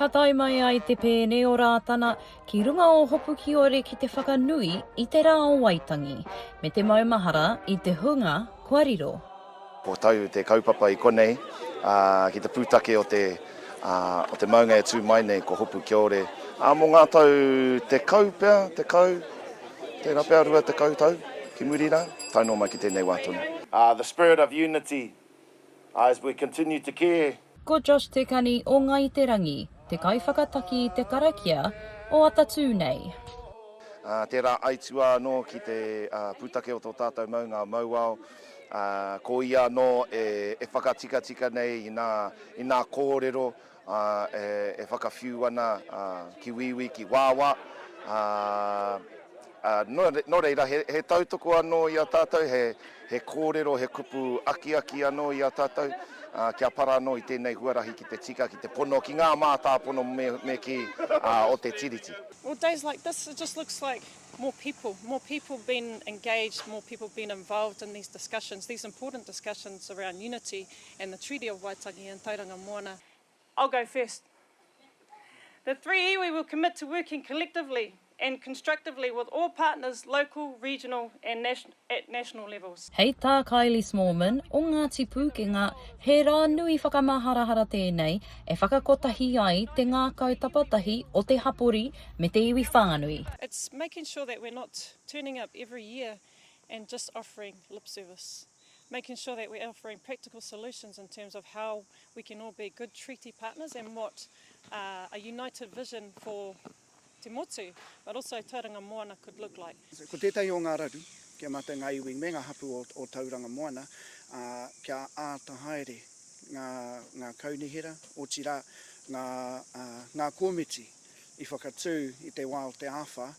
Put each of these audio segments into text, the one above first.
Ka tae mai ai te pēne o Rātana ki runga o Hopukiore ki te whakanui i te rā o Waitangi, me te maumahara i te hunga kua riro. Ko tau te kaupapa i konei, ā, ki te pūtake o te, ā, o te maunga e tū mai nei ko Hopukiore, ā, mō ngā tau tekau pea, tekau. Tērā pea rua tekau tau ki muri rā, tae noa mai ki tēnei wā tonu. Ah, the spirit of unity as we continue to care. Ko Josh Te Kani o Ngai Te Rangi te kaiwhakataki i te karakia o Atatū nei. Ah, tērā aituā anō ki te pūtake o tō tātou maunga mauao. Ah, ko ia anō e whakatikatika nei i nā kōrero ā, e, e whakawhiu ana, ā, ki Wīwī, ki Wāwā, ā, ā, nō, nō reira, he, he tautoko anō i a tātou, he, he kōrero, he kupu akiaki anō i a tātou, ā, kia para anō i tēnei huarahi ki te tika, ki te pono, ki ngā mātāpono me, me kī, ā, o te Tiriti. Well, days like this, it just looks like more people, more people being engaged, more people being involved in these discussions, these important discussions around unity and the Treaty of Waitangi and Tauranga Moana. I'll go first. The three iwi will commit to working collectively and constructively with all partners local, regional and at national levels. Hei tā Kylie Smallman o Ngāti Pūkenga, he rā nui whakamaharahara tēnei e whakakotahi ai te ngākau tapatahi o te hapori me te iwi whānui. It's making sure that we're not turning up every year and just offering lip service. making sure that we're offering practical solutions in terms of how we can all be good treaty partners and what a united vision for te motu, but also Tauranga Moana could look like. Ko tētahi o ngā raru, kia mate ngā iwi me ngā hapū o Tauranga Moana, kia āta haere ngā kaunihera, otirā ngā kōmiti. i whakatū i te wā o te āwha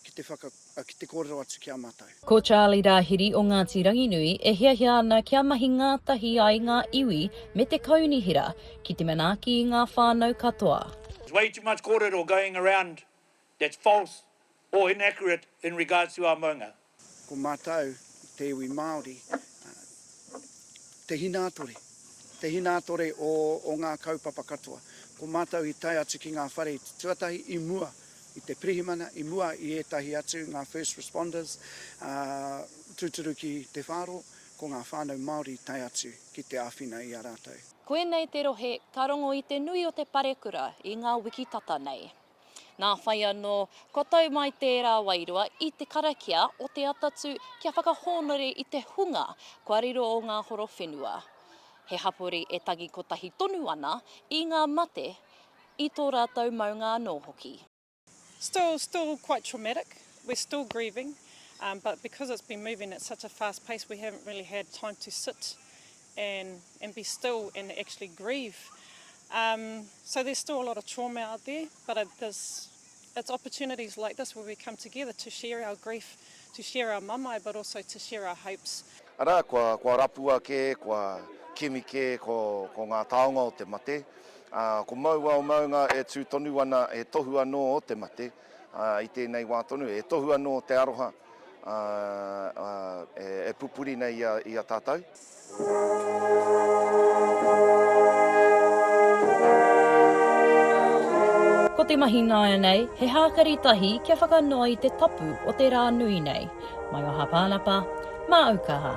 ki te whaka, ki te kōrero atu ki a mātou. Ko Charlie Rāhiri o Ngāti Ranginui e hiahia ana kia mahi ngātahi ai ngā iwi me te kaunihera ki te manaaki i ngā whānau katoa. There's way too much kōrero going around that's false or inaccurate in regards to our maunga. Ko mātou te iwi Māori, te hinātore, te hinātore o ngā kaupapa katoa. Ko mātou i tae atu ki ngā whare tuatahi i mua i te pirihimana, i mua i ētahi atu, ngā first responders, ā, tūturu ki te whāro, ko ngā whānau Māori i tae atu ki te āwhina i a rātou. Koinei te rohe ka rongo i te nui o te parekura i ngā wiki tata nei. Nā whai anō, kua tau mai tērā wairua i te karakia o te atatū kia whakahōnore i te hunga kua riro o ngā horo whenua. He hapori e tangi kotahi tonu ana i ngā mate i tō rātou maunga anō hoki. Still still quite traumatic, we're still grieving, but because it's been moving at such a fast pace we haven't really had time to sit and and be still and actually grieve um so there's still a lot of trauma out there but it this it's opportunities like this where we come together to share our grief to share our mamae but also to share our hopes. Arā, kua, kua rapua kē, kua kimi kē ko, ko ngā taonga o te mate. Ā, ko māua o maunga e tū tonu ana he tohu anō o te mate. i tēnei wā tonu, e tohu anō te aroha e pupuri nei i a tātou. Ko te mahi nāianei, he hākari tahi kia whakanoa i te tapu o te rā nui nei. Mai o Hāpānapa, mā Aukaha.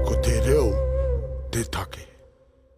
Ko te reo te take.